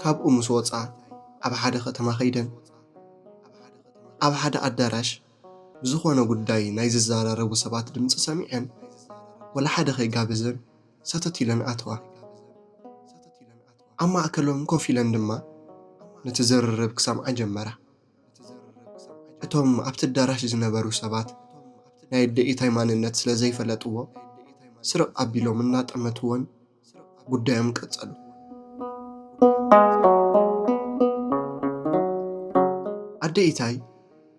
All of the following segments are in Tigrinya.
ካብኡ ምስ ወጽኣ ኣብ ሓደ ከተማ ከይደን ኣብ ሓደ ኣዳራሽ ብዝኾነ ጉዳይ ናይ ዝዘራረቡ ሰባት ድምጺ ሰሚዐን ወላ ሓደ ከይጋበዘን ሰተት ኢለን ኣተዋ። ኣብ ማእከሎም ኮፍ ኢለን ድማ ነቲ ዝርርብ ክሰምዓ ጀመራ። እቶም ኣብቲ ኣዳራሽ ዝነበሩ ሰባት ናይ ኣደ ኢታይ ማንነት ስለ ዘይፈለጥዎ ስርቕ ኣቢሎም እናጠመትወን ጉዳዮም ቀጸሉ። ኣደ ኢታይ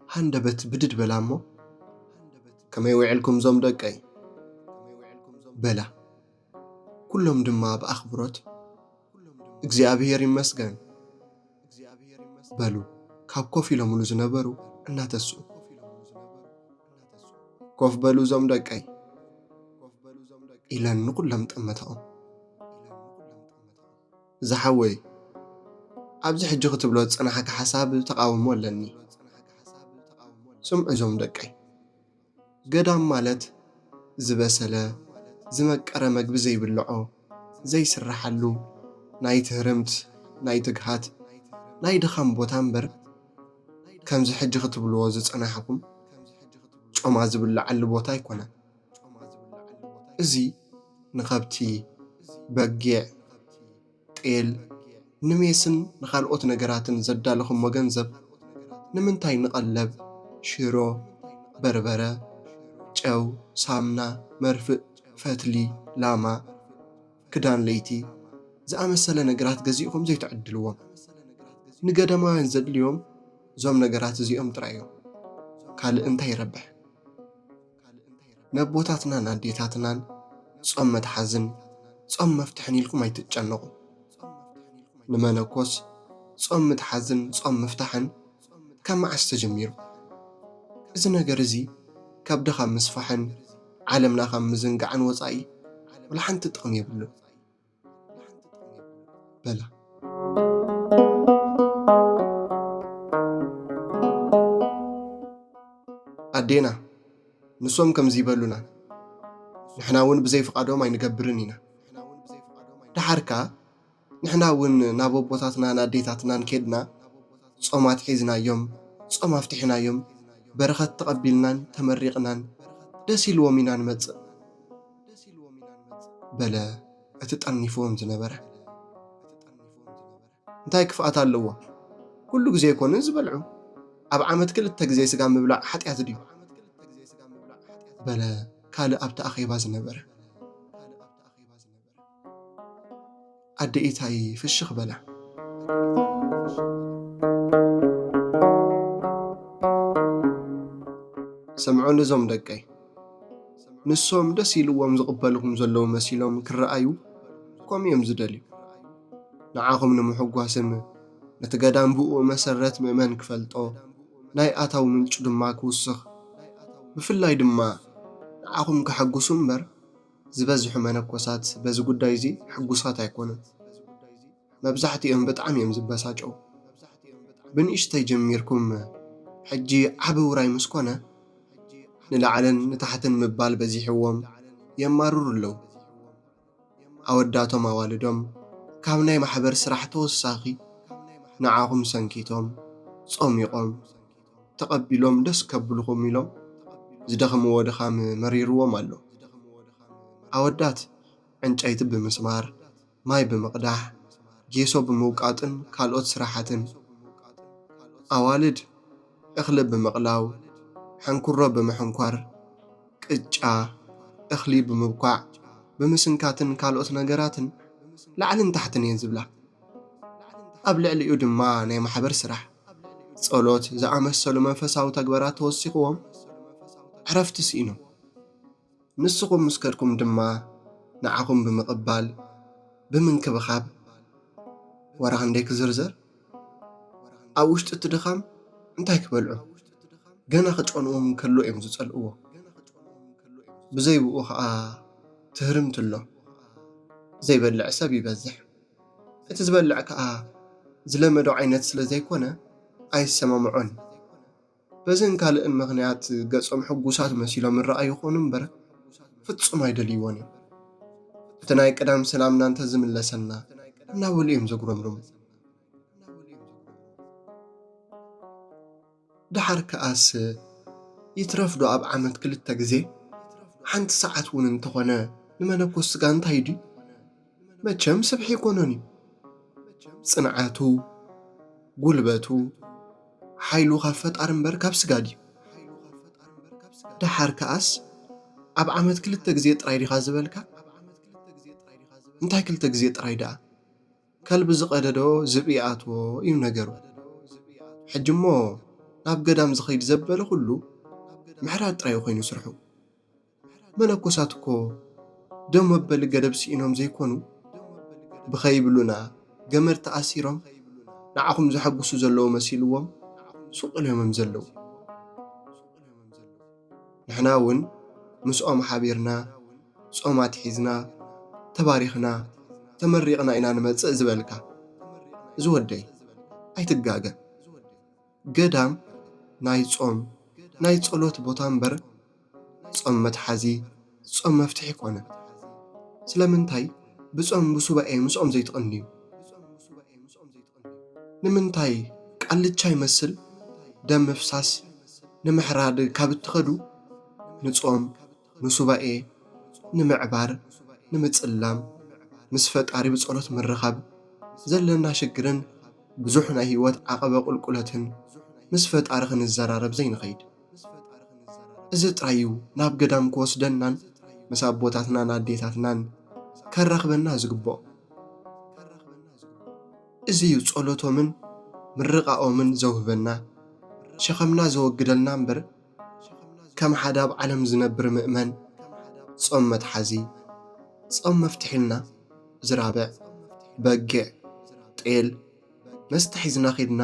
ሃንደበት ብድድ በላ እሞ ከመይ ውዒልኩም ዞም ደቀይ በላ። ኩሎም ድማ ብኣኽብሮት እግዚኣብሔር ይመስገን በሉ ካብ ኮፍ ኢሎምሉ ዝነበሩ እናተስኡ። ኮፍ በሉ እዞም ደቀይ ኢለን ንኹሎም ጠመተኦም ዝሓወይ ኣብዚ ሕጂ ክትብሎ ዝጸናሓካ ሓሳብ ተቓውሞ ኣለኒ ስምዑ እዞም ደቀይ ገዳም ማለት ዝበሰለ ዝመቀረ መግቢ ዘይብልዖ ዘይስራሓሉ ናይ ትህርምት ናይ ትግሃት ናይ ድኻም ቦታ እምበር ከምዚ ሕጂ ክትብልዎ ዝጸናሕኩም ጮማ ዝብላዓሉ ቦታ ኣይኮነን እዚ ንኸብቲ በጊዕ ጤል ንሜስን ንኻልኦት ነገራትን ዘዳለኹሞ ገንዘብ ንምንታይ ንቐለብ፣ ሽሮ፣ በርበረ፣ ጨው፣ ሳምና፣ መርፍእ፣ ፈትሊ፣ ላማ፣ ክዳን ለይቲ ዝኣመሰለ ነገራት ገዚእኹም ዘይትዕድልዎም? ንገዳማውያን ዘድልዮም እዞም ነገራት እዚኦም ጥራይ እዮም። ካልእ እንታይ ይረብሕ? ነቦታትናን ኣዴታትናን ጾም መትሓዝን ጾም መፍትሕን ኢልኩም ኣይትጨነቑ። ንመነኮስ ጾም ምትሓዝን ጾም ምፍታሕን ካብ መዓስ ተጀሚሩ? እዚ ነገር እዚ ከብዲ ካብ ምስፋሕን ዓለምና ካብ ምዝንጋዕን ወጻኢ ዋላ ሓንቲ ጥቕሚ የብሉን። በላ ኣዴና ንሶም ከምዚ ይበሉና ንሕና እውን ብዘይ ፍቓዶም ኣይንገብርን ኢና ደሓር ከኣ ንሕና እውን ናብ ኣቦታትናን ኣዴታትናን ኬድና ጾም ኣትሒዝናዮም ጾም ኣፍቲሕናዮም በረኸት ተቐቢልናን ተመሪቕናን ደስ ኢልዎም ኢና ንመጽእ ደስ ኢልዎም ኢና ንመጽእ። በለ እቲ ጠርኒፍዎም ዝነበረ። እንታይ ክፍኣት ኣለዎ? ኩሉ ግዜ ኣይኮኑን ዝበልዑ። ኣብ ዓመት ክልተ ግዜ ስጋ ምብላዕ ሓጢኣት ድዩ? በለ ካልእ ኣብቲ ኣኼባ ዝነበረ። ኣደ ኢታይ ፍሽኽ በላ። ስምዑኒ እዞም ደቀይ፣ ንሶም ደስ ኢልዎም ዝቕበልኹም ዘለዉ መሲሎም ክረኣዩ ከምኡ እዮም ዝደልዩ። ንዓኹም ንምሕጓስን ነቲ ገዳም ብኡ መሰረት ምእመን ክፈልጦ ናይ ኣታዊ ምንጩ ድማ ክውስኽ ብፍላይ ድማ ንዓኹም ከሐጉሱ እምበር ዝበዝሑ መነኮሳት በዚ ጉዳይ እዚ ሕጉሳት ኣይኮኑን። መብዛሕትኦም ብጣዕሚ እዮም ዝበሳጨው። ብንእሽተይ ጀሚርኩም ሕጂ ዓቢ ውራይ ምስ ኮነ ንላዕልን ንታሕትን ምባል በዚሕዎም የማርሩ ኣለው። ኣወዳቶም ኣዋልዶም ካብ ናይ ማሕበር ስራሕ ተወሳኺ ንዓኹም ሰንኪቶም ጾሚቖም ተቐቢሎም ደስ ከብልኹም ኢሎም ዝደኽምዎ ድኻም መሪርዎም ኣሎ። ኣወዳት ዕንጨይቲ ብምስማር፣ ማይ ብምቕዳሕ፣ ጌሶ ብምውቃጥን ካልኦት ስራሓትን፣ ኣዋልድ እኽሊ ብምቕላው፣ ሕንኩሮ ብምሕንኳር፣ ቅጫ፣ እኽሊ ብምብኳዕ፣ ብምስንካትን ካልኦት ነገራትን ላዕልን ታሕትን እየን ዝብላ። ኣብ ልዕሊኡ ድማ ናይ ማሕበር ስራሕ። ጸሎት ዝኣመሰሉ መንፈሳዊ ተግበራት ተወሲኽዎም ዕረፍቲ ስኢኖም ንስኹም ምስ ከድኩም ድማ ንዓኹም ብምቕባል ብምንክብኻብ ወረ ክንደይ ክዝርዘር ኣብ ውሽጢ እቲ ድኻም እንታይ ክበልዑ ገና ክጨንዎም ከሎ እዮም ዝጸልእዎ ብዘይብኡ ከዓ ትህርምትሎ ዘይበልዕ ሰብ ይበዝሕ እቲ ዝበልዕ ከኣ ዝለመዶ ዓይነት ስለ ዘይኮነ ኣይሰማምዖን እዩ። በዝን ካልእን ምኽንያት ገጾም ሕጉሳት መሲሎም ይረኣዩ ይኾኑ እምበር ፍጹም ኣይደልይዎን እዮም። እቲ ናይ ቀዳም ሰላምና እንተዝምለሰልና እናበሉ እዮም ዘጉረምርሙ። ደሓር ከኣስ ይትረፍ ዶ ኣብ ዓመት ክልተ ግዜ ሓንቲ ሰዓት እውን እንተኾነ ንመነኮስ ስጋ እንታይ ድዩ መቸም ስብሒ ኣይኮነን እዩ ጽንዓቱ ጉልበቱ ሓይሉ ካብ ፈጣሪ እምበር ካብ ስጋ ድዩ ደሓር ከኣስ ኣብ ዓመት ክልተ ግዜ ጥራይ ዲኻ ዝበልካ እንታይ ክልተ ግዜ ጥራይ ደኣ ከልቢ ዝቐደዶ ዝብኢ ይኣትዎ እዩ ነገሩ። ሕጂ እሞ ናብ ገዳም ዝኸይድ ዘበለ ኹሉ ምሕራድ ጥራይ ኮይኑ ስርሑ። መነኮሳት እኮ ደም መበሊ ገደብ ስኢኖም ዘይኮኑ ብኸይብሉና ገመድ ተኣሲሮም ንዓኹም ዘሐጉሱ ዘለዉ መሲልዎም ሱቕ ኢሎም'ዮም ዘለዉ። ንሕና እውን ምስኦም ሓቢርና ጾም ኣትሒዝና ተባሪኽና ተመሪቕና ኢና ንመጽእ ዝበልካ እዚ ወደይ ኣይትጋገ ገዳም ናይ ጾም ናይ ጸሎት ቦታ እምበር ጾም መትሓዚ ጾም መፍትሒ ኮነ ስለምንታይ ብጾም ብሱባኤ ምስኦም ዘይትቕንዩ ንምንታይ ቃልቻ ይመስል ደም ምፍሳስ ንምሕራድ ካብ እትኸዱ ንጾም ንሱባኤ ንምዕባር ንምጽላም ምስ ፈጣሪ ብጸሎት ምርኻብ ዘለና ሽግርን ብዙሕ ናይ ሂወት ዓቀበ ቁልቁለትን ምስ ፈጣሪ ክንዘራረብ ዘይንኸይድ ምስ ፈጣሪ ክንዘራረብ እዚ ጥራይ እዩ ናብ ገዳም ክወስደናን ምስ ኣቦታትናን ኣዴታትናን ከራኽበና ዝግብኦ። እዚ እዩ ጸሎቶምን ምርቓኦምን ዘውህበና ሸኸምና ዘወግደልና እምበር ከም ሓደ ኣብ ዓለም ዝነብር ምእመን ጾም መትሓዚ ጾም መፍትሕ ኢልና ዝራብዕ በጊዕ ጤል መስተ ሒዝና ኬድና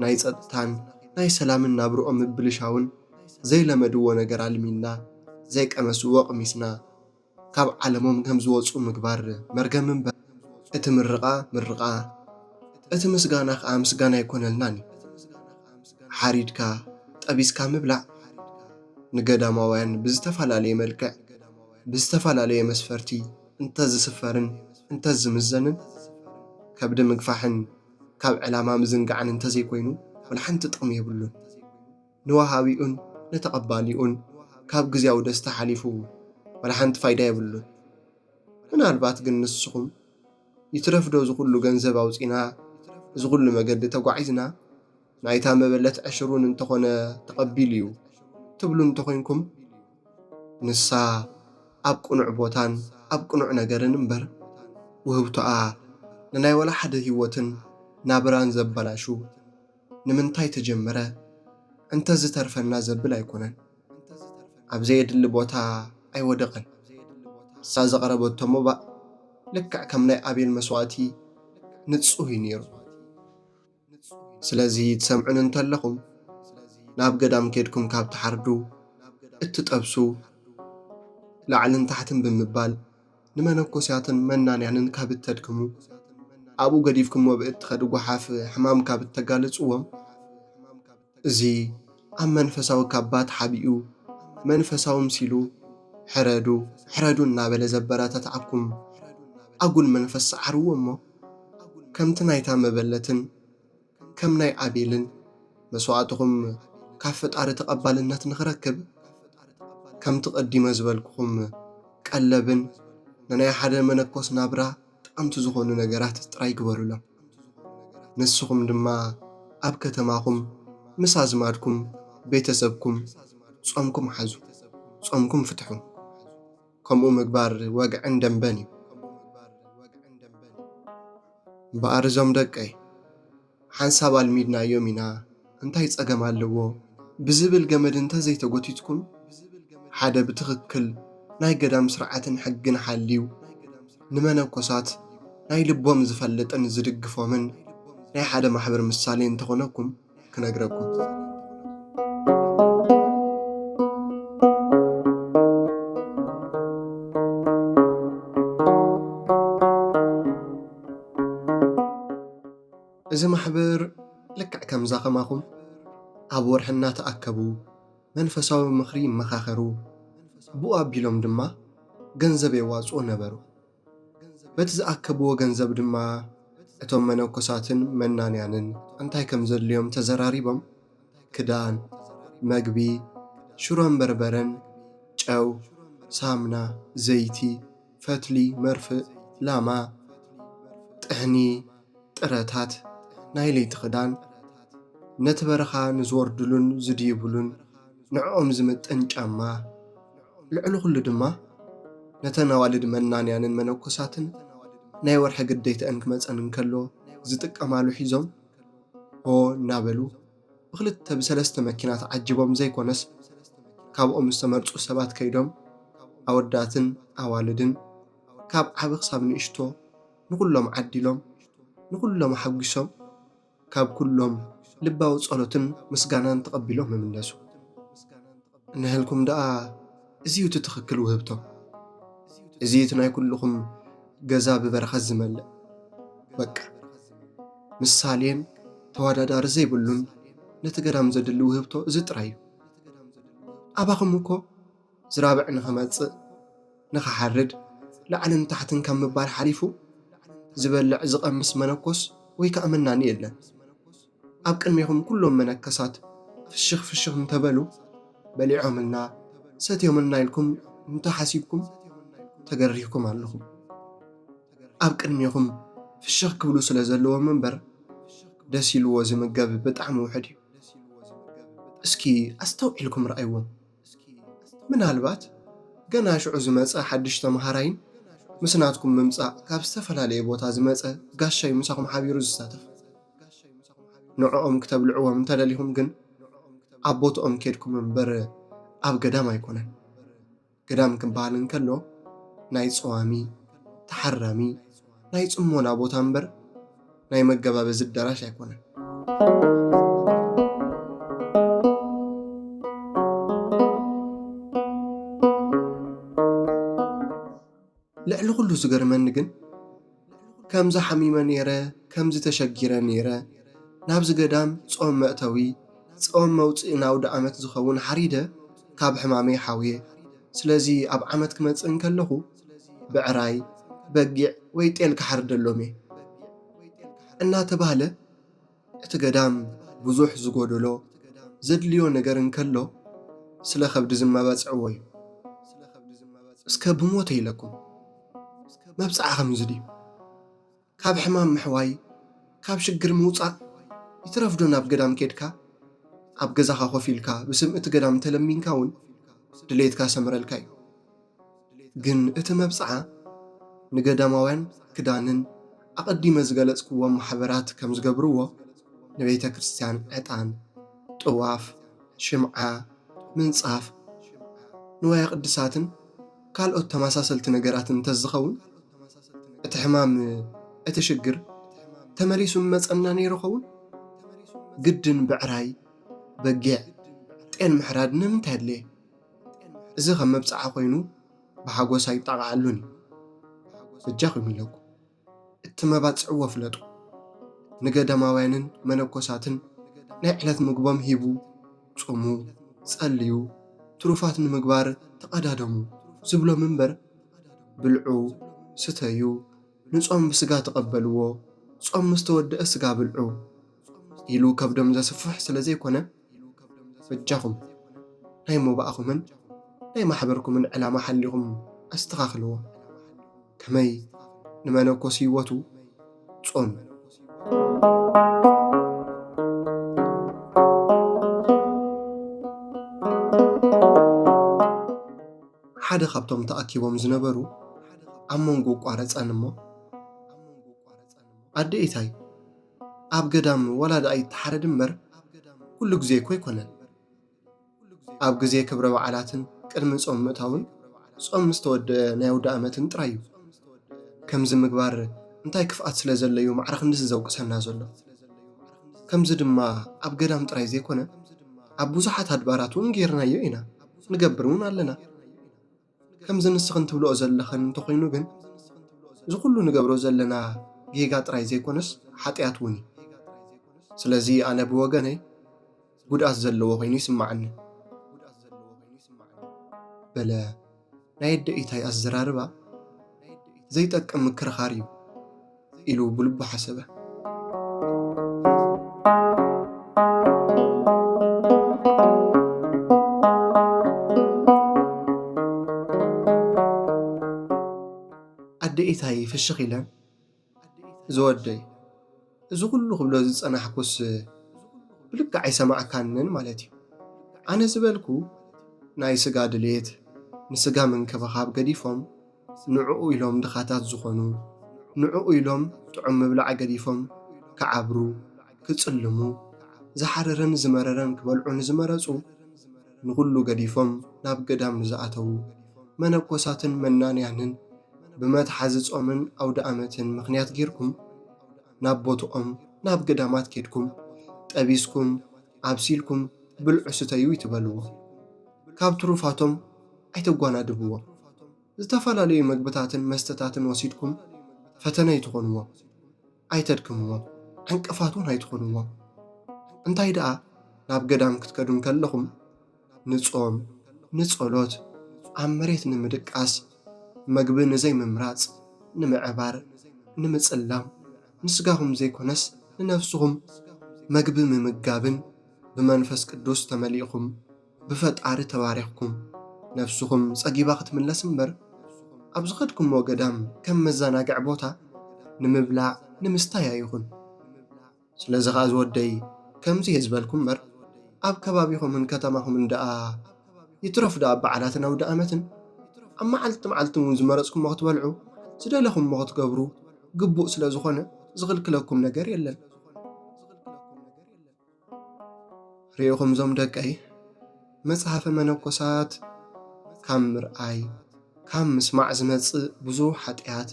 ናይ ፀጥታን ናይ ሰላምን ናብርኦም ምብልሻውን ዘይለመድዎ ነገር ኣልሚና ዘይቀመስዎ ቕሚስና ካብ ዓለሞም ከምዝወፁ ምግባር መርገም እምበር እቲ ምርቓ ምርቓ እቲ ምስጋና ኸዓ ምስጋና ኣይኮነልናን እዩ። ሓሪድካ ጠቢስካ ምብላዕ ንገዳማውያን ብዝተፈላለየ መልክዕ ብዝተፈላለየ መስፈርቲ እንተዝስፈርን እንተዝምዘንን ከብዲ ምግፋሕን ካብ ዕላማ ምዝንጋዕን እንተዘይኮይኑ ዋላ ሓንቲ ጥቕሚ የብሉን። ንወሃቢኡን ንተቐባሊኡን ካብ ግዝያዊ ደስታ ሓሊፉ ዋላ ሓንቲ ፋይዳ የብሉን። ምናልባት ግን ንስኹም ይትረፍዶ እዚ ኩሉ ገንዘብ ኣውጺእና እዚ ኩሉ መገዲ ተጓዒዝና፣ ናይታ መበለት ዕሽር እውን እንተኾነ ተቐቢሉ እዩ ትብሉ እንተኾይንኩም፣ ንሳ ኣብ ቅኑዕ ቦታን ኣብ ቅኑዕ ነገርን እምበር፣ ውህብቶኣ ንናይ ዋላ ሓደ ህይወትን ናብራን ዘበላሹ ንምንታይ ተጀመረ እንተዝተርፈና ዘብል ኣይኮነን። ኣብ ዘየድሊ ቦታ ኣይወደቐን። ንሳ ዘቕረበቶ መባእ ልክዕ ከም ናይ ኣቤል መስዋእቲ ንጹህ እዩ ነይሩ። ስለዚ ትሰምዑኒ እንተለኹም ናብ ገዳም ኬድኩም ካብ ትሓርዱ እትጠብሱ ላዕልን ታሕትን ብምባል ንመነኮስያትን መናንያንን ካብ እተድክሙ ኣብኡ ገዲፍኩሞ ብእትኸዱ ጓሓፍ ሕማም ካብ እተጋልጽዎም እዚ ኣብ መንፈሳዊ ካባ ተሓቢኡ መንፈሳዊ ምሲሉ ሕረዱ ሕረዱ እናበለ ዘበረታትዓኩም ኣጉል መንፈስ ሰዓርዎ እሞ ከምቲ ናይታ መበለትን ከም ናይ ኣቤልን መስዋእትኹም ካብ ፈጣሪ ተቐባልነት ንኽረክብ ከምቲ ቀዲመ ዝበልኩኹም ቀለብን ንናይ ሓደ መነኮስ ናብራ ጠቐምቲ ዝኾኑ ነገራት ጥራይ ግበሩሎም። ንስኹም ድማ ኣብ ከተማኹም ምስ ኣዝማድኩም፣ ቤተ ሰብኩም፣ ጾምኩም ሓዙ፣ ጾምኩም ፍትሑ። ከምኡ ምግባር ወግዕን ደምበን እዩ። እምበኣር እዞም ደቀይ! ሓንሳብ ኣልሚድናዮም ኢና እንታይ ጸገም ኣለዎ ብዝብል ገመድ እንተ ዘይተጎቲትኩም ሓደ ብትኽክል ናይ ገዳም ስርዓትን ሕግን ሓልዩ ንመነኮሳት ናይ ልቦም ዝፈልጥን ዝድግፎምን ናይ ሓደ ማሕበር ምሳሌ እንተኾነኩም ክነግረኩም እዚ ማሕበር ልክዕ ከምዛ ከማኹም ኣብ ወርሒ እናተኣከቡ መንፈሳዊ ምኽሪ ይመኻኸሩ፣ ብኡ ኣቢሎም ድማ ገንዘብ የዋጽኡ ነበሩ። በቲ ዝኣከብዎ ገንዘብ ድማ እቶም መነኮሳትን መናንያንን እንታይ ከም ዘድልዮም ተዘራሪቦም ክዳን፣ መግቢ፣ ሽሮን በርበረን፣ ጨው፣ ሳምና፣ ዘይቲ፣ ፈትሊ መርፍእ፣ ላማ፣ ጥሕኒ፣ ጥረታት፣ ናይ ለይቲ ክዳን፣ ነቲ በረኻ ንዝወርድሉን ዝድይብሉን ንዕኦም ዝምጥን ጫማ፣ ልዕሊ ኩሉ ድማ ነተን ኣዋልድ መናንያንን መነኮሳትን ናይ ወርሒ ግዴትኣን ክመጸን እንከሎ ዝጥቀማሉ ሒዞም ሆ እናበሉ ብኽልተ ብሰለስተ መኪና ተዓጂቦም ዘይኮነስ ካብኦም ዝተመርፁ ሰባት ከይዶም ኣወዳትን ኣዋልድን ካብ ዓቢ ክሳብ ንእሽቶ ንኹሎም ዓዲሎም ንኹሎም ኣሓጒሶም ካብ ኩሎም ልባዊ ጸሎትን ምስጋናን ተቐቢሎም ይምለሱ። እንሀልኩም ደኣ እዚ እዩ እቲ ትኽክል ውህብቶ። እዚ እቲ ናይ ኩልኹም ገዛ ብበረኸት ዝመልእ በቃ ምሳሌን ተወዳዳሪ ዘይብሉን ነቲ ገዳም ዘድሊ ውህብቶ እዚ ጥራይ እዩ። ኣባኹም እኮ ዝራብዕ ንኽመጽእ ንኽሓርድ ላዕልን ታሕትን ካብ ምባል ሓሊፉ ዝበልዕ ዝቐምስ መነኮስ ወይ ከኣ መናኒ የለን። ኣብ ቅድሜኹም ኩሎም መነከሳት ፍሽኽ ፍሽኽ እንተበሉ በሊዖምልና ሰትዮምልና ኢልኩም እንተሓሲብኩም ተገሪህኩም ኣለኹም። ኣብ ቅድሜኹም ፍሽኽ ክብሉ ስለ ዘለዎም እምበር ደስ ኢልዎ ዝምገብ ብጣዕሚ ውሑድ እዩ። እስኪ ኣስተውዒልኩም ረኣይዎም። እስኪ ምናልባት ገና ሽዑ ዝመጸ ሓድሽ ተመሃራይን ምስ ናትኩም ምምጻእ ካብ ዝተፈላለየ ቦታ ዝመጸ ጋሻይ ምሳኹም ሓቢሩ ዝሳተፍ ንዕኦም ክተብልዕዎም እንተደሊኹም ግን ኣብ ቦትኦም ኬድኩም እምበር ኣብ ገዳም ኣይኮነን። ገዳም ክበሃል እንከሎ ናይ ጸዋሚ፣ ተሓራሚ፣ ናይ ጽሞና ቦታ እምበር ናይ መገባበዚ ኣዳራሽ ኣይኮነን። ልዕሊ ኩሉ ዝገርመኒ ግን ከምዚ ሓሚመ ነይረ ከምዚ ተሸጊረ ነይረ ናብዚ ገዳም ጾም መእተዊ ጾም መውጽኢ ንኣውደኣመት ዝኸውን ሓሪደ ካብ ሕማመይ ሓውየ ስለዚ ኣብ ዓመት ክመጽእ እንከለኹ ብዕራይ፣ በጊዕ ወይ ጤል ክሓርደሎም እየ እናተባህለ እቲ ገዳም ብዙሕ ዝጎደሎ ዘድልዮ ነገር እንከሎ ስለ ከብዲ ዝመባጽዕዎ እዩ። እስከ ብሞተ ኢለኩም መብጽዓ ከምዚ ድዩ? ካብ ሕማም ምሕዋይ ካብ ሽግር ምውጻእ ይትረፍ ዶ ናብ ገዳም ኬድካ ኣብ ገዛኻ ኮፍ ኢልካ ብስም እቲ ገዳም እንተለሚንካ ውን ድሌትካ ክሰምረልካ ዩ ግን እቲ መብጽዓ ንገዳማውያን ክዳንን ኣቀዲመ ዝገለጽክዎም ማሕበራት ከም ዝገብርዎ ንቤተ ክርስትያን ዕጣን ጥዋፍ ሽምዓ ምንጻፍ ንዋየ ቅድሳትን ካልኦት ተመሳሰልቲ ነገራትን እንተዝኸውን እቲ ሕማም እቲ ሽግር ተመሊሱ ምመፀና ነይሩ ኸውን? ግድን ብዕራይ፣ በጊዕ፣ ጤል ምሕራድ ንምንታይ ኣድለየ? እዚ ከም መብፅዓ ኮይኑ ብሓጎስ ኣይጣቓዓሉን እዩ። በጃኹም ኢለኩም። እትመባጽዕዎ ፍለጡ። ንገዳማውያንን መነኮሳትን ናይ ዕለት ምግቦም ሂቡ፣ ጹሙ፣ ጸልዩ፣ ትሩፋት ንምግባር ተቐዳደሙ ዝብሎም እምበር፣ ብልዑ፣ ስተዩ፣ ንጾም ብስጋ ተቐበልዎ፣ ጾም ምስ ተወድኣ ስጋ ብልዑ ኢሉ ከብዶም ዘስፍሕ ስለ ዘይኮነ፣ ኢሉ ከብዶም ዘስብር በጃኹም ናይ ሞባእኹምን ናይ ማሕበርኩምን ዕላማ ሓሊኹም ኣስተኻኽልዎ ከመይ ንመነኮስ ህይወቱ ጾም ሓደ ካብቶም ተኣኪቦም ዝነበሩ ኣብ መንጎ ቋረፀን እሞ ኣደ ኢታይ ኣብ ገዳም ዋላ ድኣ ይተሓረድ እምበር ኩሉ ግዜ እኮ ኣይኮነን። ኣብ ግዜ ክብረ በዓላትን ቅድሚ ጾም ምእታውን ጾም ምስ ተወድአ ናይ ኣውደኣመትን ጥራይ እዩ። ከምዚ ምግባር እንታይ ክፍኣት ስለ ዘሎ'ዩ ማዕረ ክንድዚ ዘውቅሰና ዘሎ? ከምዚ ድማ ኣብ ገዳም ጥራይ ዘይኮነ ኣብ ብዙሓት ኣድባራት እውን ገይርናዮ ኢና ንገብር እውን ኣለና። ከምዚ ንስኽን ትብልኦ ዘለኽን እንተኾይኑ ግን እዚ ኩሉ ንገብሮ ዘለና ጌጋ ጥራይ ዘይኮነስ ሓጢኣት እውን እዩ። ስለዚ ኣነ ብወገነይ ጉድኣት ዘለዎ ኮይኑ ይስምዓኒ። በለ ናይ ኣደ ኢታይ ኣዘራርባ ዘይጠቅም ምክርኻር እዩ። ኢሉ ብልቡ ሓሰበ። ኣደ ኢታይ ፍሽኽ ኢለን ዝወደይ እዚ ኩሉ ክብሎ ዝጸናሕኩስ ብልክዕ ኣይሰማዕካንን ማለት እዩ። ኣነ ዝበልኩ ናይ ስጋ ድሌት ንስጋ ምንክብኻብ ገዲፎም ንዕኡ ኢሎም ድኻታት ዝኾኑ፣ ንዕኡ ኢሎም ጥዑም ምብላዕ ገዲፎም ክዓብሩ፣ ክጽልሙ፣ ዝሓረረን ዝመረረን ክበልዑ ንዝመረጹ፣ ንኹሉ ገዲፎም ናብ ገዳም ንዝኣተዉ መነኮሳትን መናንያንን ብመትሓዚ ጾምን ኣውደኣመትን ምኽንያት ጌርኩም ናብ ቦትኦም ናብ ገዳማት ኬድኩም ጠቢስኩም ኣብሲልኩም ብልዑ ስተዩ ይትበልዎ ካብ ትሩፋቶም ኣይተጓናድብዎም። ዝተፈላለዩ መግብታትን መስተታትን ወሲድኩም ፈተነ ኣይትኾንዎም። ኣይተድክምዎም። ዕንቅፋት እውን ኣይትኾንዎም። እንታይ ደኣ ናብ ገዳም ክትከዱ እንከለኹም ንጾም፣ ንጸሎት፣ ኣብ መሬት ንምድቃስ፣ መግቢ ንዘይምምራጽ፣ ንምዕባር፣ ንምጽላም፣ ንስጋኹም ዘይኮነስ ንነፍስኹም መግቢ ምምጋብን ብመንፈስ ቅዱስ ተመሊእኩም ብፈጣሪ ተባሪኽኩም ነብስኹም ጸጊባ ክትምለስ እምበር ኣብ ዝኸድኩሞ ገዳም ከም መዛናግዒ ቦታ ንምብላዕ ንምስታይ ኣይኹን ስለዚ ኸኣ ዝወደይ ከምዚ እየ ዝበልኩ እምበር ኣብ ከባቢኹምን ከተማኹምን ደኣ ይትረፍ ደኣ ኣብ በዓላትን ኣውደኣመትን ኣብ መዓልቲ መዓልቲ እውን ዝመረጽኩሞ ክትበልዑ ዝደለኹሞ ክትገብሩ ግቡእ ስለ ዝኾነ ዝኽልክለኩም ነገር የለን። ርኢኹም ዞም ደቀይ መጽሓፈ መነኮሳት ካብ ምርኣይ ካብ ምስማዕ ዝመጽእ ብዙሕ ሓጢኣት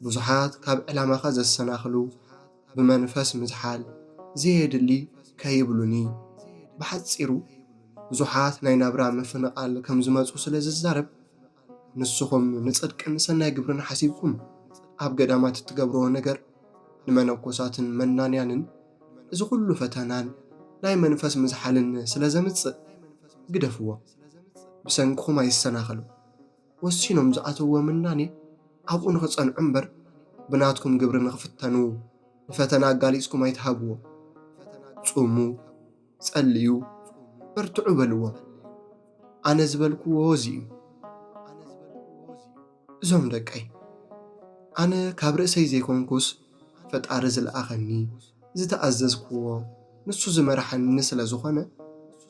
ብዙሓት ካብ ዕላማኻ ዘሰናኽሉ ብመንፈስ ምዝሓል ዘየድሊ ከይብሉኒ ብሓጺሩ ብዙሓት ናይ ናብራ ምፍንቓል ከም ዝመጹ ስለ ዝዛረብ ንስኹም ንጽድቅን ሰናይ ግብርን ሓሲብኩም ኣብ ገዳማት እትገብርዎ ነገር ንመነኮሳትን መናንያንን እዚ ኹሉ ፈተናን ናይ መንፈስ ምዝሓልን ስለ ዘምጽእ ግደፍዎ። ብሰንክኹም ኣይሰናኸሉ። ወሲኖም ዝኣተውዎ ምናኔ ኣብኡ ንኽጸንዑ እምበር ብናትኩም ግብሪ ንኽፍተኑ ንፈተና ኣጋሊጽኩም ኣይትሃብዎም። ጹሙ። ጸልዩ፣ በርትዑ በልዎም። ኣነ ዝበልክዎ እዚ እዩ። እዞም ደቀይ ኣነ ካብ ርእሰይ ዘይኮንኩስ ፈጣሪ ዝለኣኸኒ ዝተኣዘዝክዎ ንሱ ዝመርሓኒ ስለ ዝኾነ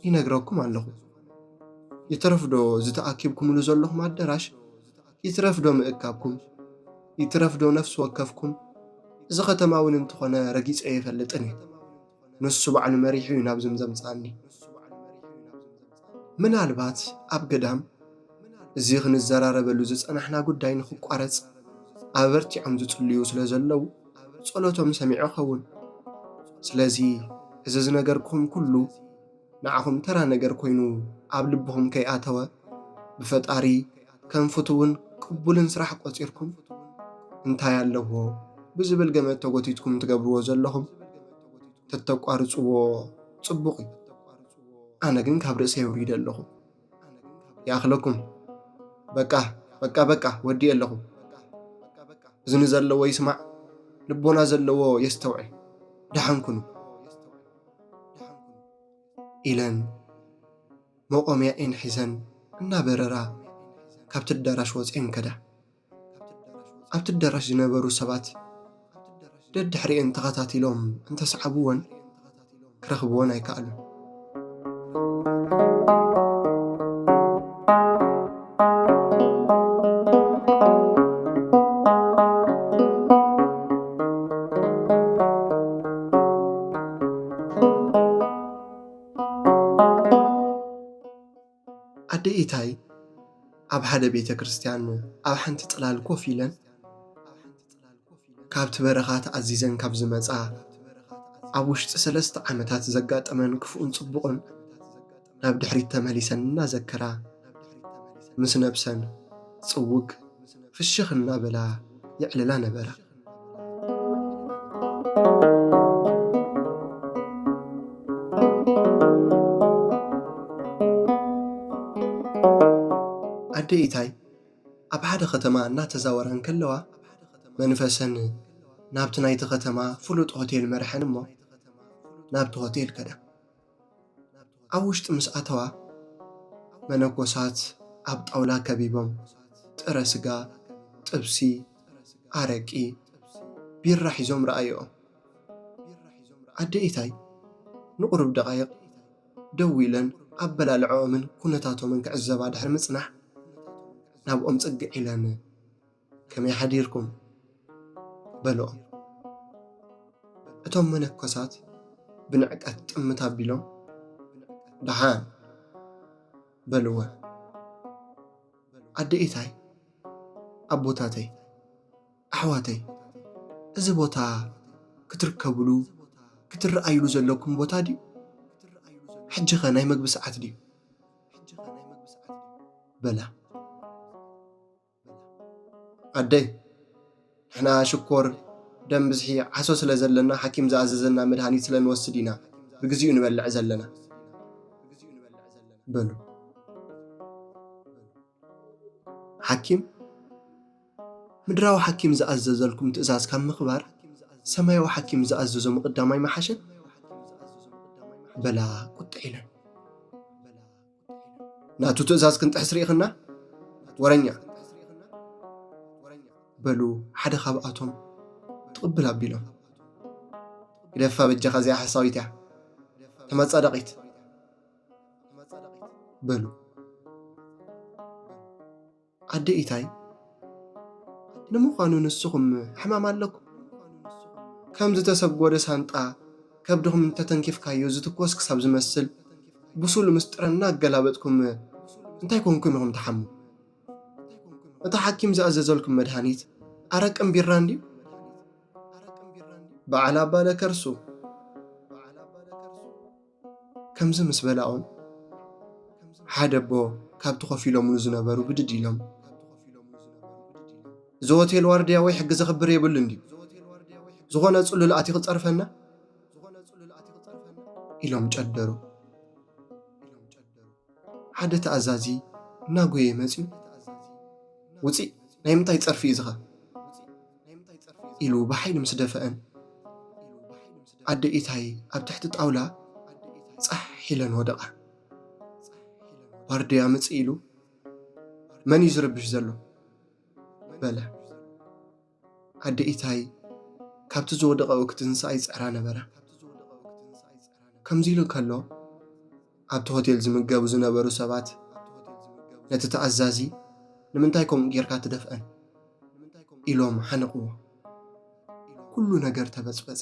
ይነግረኩም ኣለኹ። ይትረፍዶ ዝተኣኪብኩምሉ ዘለኹም ኣደራሽ ይትረፍዶ ምእካብኩም ይትረፍዶ ነፍሲ ወከፍኩም እዚ ከተማ እውን እንተኾነ ረጊጸ የፈልጥን እዩ። ንሱ ባዕሉ መሪሑ እዩ ናብዝም ዘምጽኣኒ። ምናልባት ኣብ ገዳም እዚ ክንዘራረበሉ ዝጸናሕና ጉዳይ ንኽቋረጽ ኣበርቲዖም ዝጽልዩ ስለ ዘለዉ ጸሎቶም ሰሚዑ ኸውን። ስለዚ እዚ ዝነገርኩም ኩሉ ንዓኹም ተራ ነገር ኮይኑ ኣብ ልብኹም ከይኣተወ ብፈጣሪ ከም ፍቱውን ቅቡልን ስራሕ ቆጺርኩም እንታይ ኣለዎ ብዝብል ገመት ተጎቲትኩም ትገብርዎ ዘለኹም ተተቋርጽዎ ጽቡቕ እዩ። ኣነ ግን ካብ ርእሰይ ኣውሪደ ኣለኹ። ይኣኽለኩም በቃ በቃ በቃ ወዲኤ ኣለኹ። እዝኒ ዘለዎ ይስማዕ፣ ልቦና ዘለዎ የስተውዕል። ደሓን ኩኑ ኢለን መቖሚያኤን ሒዘን እናበረራ ካብቲ ኣዳራሽ ወጺኤን ከዳ። ኣብቲ ኣዳራሽ ዝነበሩ ሰባት ደድሕሪኤን ተኸታቲሎም እንተሰዓብወን ክረኽብወን ኣይከኣሉን። ኣደ ኢታይ ኣብ ሓደ ቤተ ክርስትያን ኣብ ሓንቲ ጽላል ኮፍ ኢለን ካብቲ በረኻ ተኣዚዘን ካብ ዝመጻ ኣብ ውሽጢ ሰለስተ ዓመታት ዘጋጠመን ክፉእን ጽቡቕን ናብ ድሕሪት ተመሊሰን እናዘከራ ምስ ነብሰን ጽውግ ፍሽኽ እናበላ የዕልላ ነበራ። ኣደይ ኢታይ ኣብ ሓደ ከተማ እናተዛወራ እንከለዋ መንፈሰን ናብቲ ናይቲ ከተማ ፍሉጥ ሆቴል መርሐን እሞ ናብቲ ሆቴል ከዳ። ኣብ ውሽጢ ምስ ኣተዋ መነኮሳት ኣብ ጣውላ ከቢቦም ጥረ ስጋ፣ ጥብሲ፣ ኣረቂ፣ ቢራ ሒዞም ረኣይኦም። ኣደ ኢታይ ንቑሩብ ደቓይቕ ደው ኢለን ኣበላልዕኦምን ኩነታቶምን ክዕዘባ ድሕሪ ምጽናሕ ናብኦም ጽግዕ ኢለን ከመይ ሓዲርኩም በልኦም እቶም መነኮሳት ብንዕቀት ጥምት ኣቢሎም ደሓን በልወ ኣደ ኢታይ ኣቦታተይ ኣሕዋተይ እዚ ቦታ ክትርከብሉ ክትረኣይሉ ዘለኩም ቦታ ድዩ ሕጂ ኸ ናይ መግቢ ሰዓት ድዩ በላ ኣደይ ንሕና ሽኮር ደም ብዝሒ ዓሶ ስለ ዘለና ሓኪም ዝኣዘዘና መድሃኒት ስለ ንወስድ ኢና ብግዚኡ ንበልዕ ዘለና በሉ። ሓኪም ምድራዊ ሓኪም ዝኣዘዘልኩም ትእዛዝ ካብ ምኽባር ሰማያዊ ሓኪም ዝኣዘዞ ምቕዳም ኣይመሓሸን? በላ ቁጥዕ ኢለን። ናቱ ትእዛዝ ክንጥሕስ ርኢኽና ወረኛ በሉ ሓደ ካብኣቶም ትቕብል ኣቢሎም ግደፋ በጃኻ እዚኣ ሓሳዊት እያ ተመፃዳቂት በሉ ኣደ ኢታይ ንምዃኑ ንስኹም ሕማም ኣለኩም? ከም ዝተሰጎደ ሳንጣ ከብድኹም እንተተንኪፍካዮ ዝትኮስ ክሳብ ዝመስል ብሱል ምስጢረ እናገላበጥኩም እንታይ ኮንኩም ኢኹም ትሓሙ? እቲ ሓኪም ዝኣዘዘልኩም መድሃኒት ኣረቅን ቢራን ድዩ? በዓል ኣባለ ከርሱ ከምዚ ምስ በላኡን ሓደ ኣቦ ካብቲ ኮፍ ኢሎምሉ ዝነበሩ ብድድ ኢሎም እዚ ሆቴል ዋርድያ ወይ ሕጊ ዘኽብር የብሉ እንድዩ ዝኾነ ጽሉል ኣቲ ክጸርፈና ኢሎም ጨደሩ ሓደ ተኣዛዚ እናጎየ መፅዩ ውፂእ ናይ ምንታይ ፀርፊ እዩ ዝኻ ኢሉ ብሓይሊ ምስ ደፈኣን፣ ኣደ ኢታይ ኣብ ትሕቲ ጣውላ ጻሕ ኢለን ወደቓ። ዋርድያ ምጽእ ኢሉ መን እዩ ዝርብሽ ዘሎ? በለ። ኣደ ኢታይ ካብቲ ዝወደቐኡ ክትንስኣ ይጽዕራ ነበራ። ከምዚ ኢሉ ከሎ ኣብቲ ሆቴል ዝምገቡ ዝነበሩ ሰባት ነቲ ተኣዛዚ ንምንታይ ከምኡ ጌርካ ትደፍኣን ኢሎም ሓነቕዎ። ኩሉ ነገር ተበጽበጸ።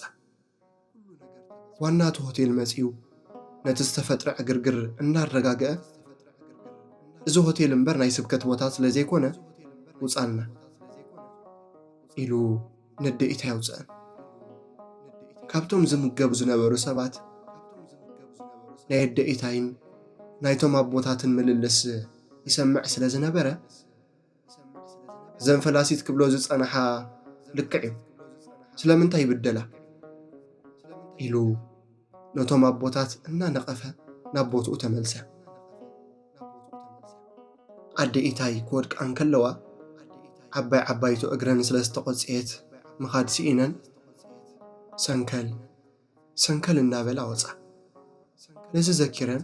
ዋና እቲ ሆቴል መጺኡ ነቲ ዝተፈጥረ ዕግርግር እናረጋግአ እዚ ሆቴል እምበር ናይ ስብከት ቦታ ስለ ዘይኮነ ውጻልና ኢሉ ንድኢት ኣየውፅእን። ካብቶም ዝምገቡ ዝነበሩ ሰባት ናይ ኣደኢታይን ናይቶም ኣቦታትን ምልልስ ይሰምዕ ስለ ዝነበረ እዘን ፈላሲት ክብሎ ዝጸንሓ ልክዕ እዩ ስለምንታይ ይብደላ ኢሉ ነቶም ኣቦታት እናነቐፈ ናብ ቦትኡ ተመልሰ። ኣደ ኢታይ ክወድቃ እንከለዋ ዓባይ ዓባይቶ እግረን ስለ ዝተቖጽየት ምኻድ ስኢነን ሰንከል ሰንከል እናበላ ወጻ። ነዚ ዘኪረን